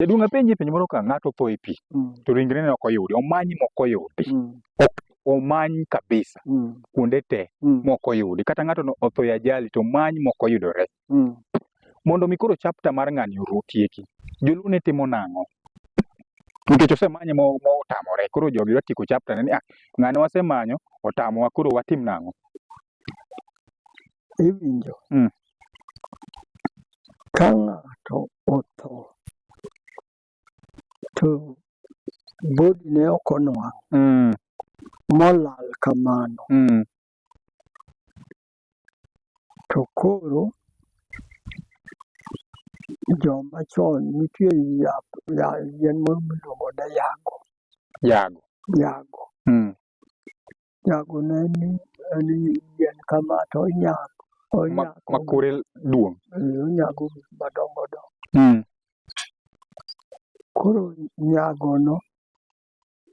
Jaduong' apenji penjo moro ka ng'ato otho e pi Mm. to ringre ne ok oyudi, omanyi ma ok oyudi. Mm. Omany kabisa Mm. kuonde te Mm. ma ok oyudi. Kata ng'ato no otho e ajali to omany ma ok oyudore. Mm. Mondo mi koro chapter mar ng'ani oru otieki, joluo ne timo nang'o? Nikech osemanye ma ma otamore, koro jogi dwa tieko chapter ne ni ah, ng'ane wasemanyo otamowa koro watim nang'o? iwinjo mm. ka ng'ato otho to bodi ne ok onwang' mm. molal kamano mm. to koro joma chon nitie yien miluongo ne yago yago yago mm. Nyago ne ni en yien kama to onyak. Ma, Onyak. ma kore duong'. Eh, Onyago gik madongo dongo. Mm. Koro nyagono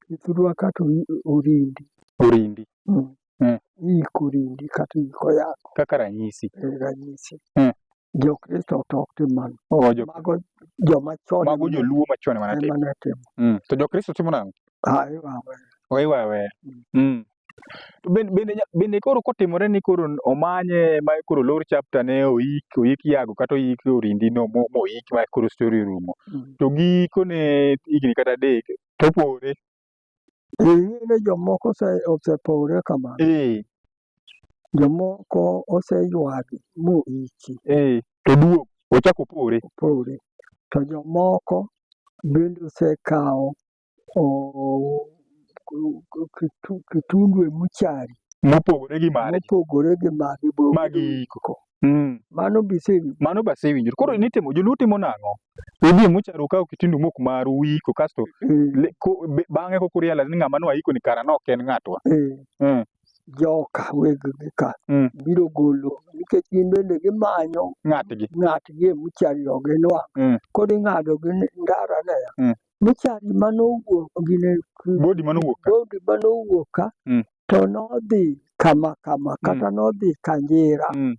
ithurwa kata ori- orindi. Orindi. Mm. Mm. Iiko orindi kata iiko yath. Kaka ranyisi. Eh, Ranyisi. Mm. Jokristo to ok tim mano. Oh, jo, Mago joma chon mago joluo machon ema ne timo. ema ne timo. Mm. To Jokristo timo nang'o? Ah, iwawe. Oiwa aweya. Mm. To bende, bende, nya- bende koro kotimore ni koro omanye ma koro lor chapter ne oik oik yago kata oik orindi no mo- moik ma koro story orumo. Mm. To gikone higni kata adek to opore. Ing'eyo ni jomoko ose- osepowre kamano. eh, Jomoko oseywagi moiki, eh, to duogo ochako opore. opowre. To jomoko bende osekawo o- ku- ku- kitu- kitundu e muchari Mopogore gi mare. mopogore gi magi Magi bogiiko. Mm. Mano bisewinjo. Mano basewinjore. Koro nitimo joluo timo nang'o? Udhi mucharu kawo kitindu mok maru uiko kasto Mm. le- ko- be- bang'e kok urealize ni ng'ama nwaiko ni kara nok en ng'atwa. Eh, Mm. Joka weg gi ka Mm. biro golo nikech gin bende gimanyo Ng'atgi. ng'atgi e muchari oginwa. Mm. Koro ing'ado gi ndara ne. Mm. Muchari mane owuok gine Bodi mano wuok ka. bodi mane owuok ka Mm. to nodhi kama kama kata nodhi Kanjira. Mm.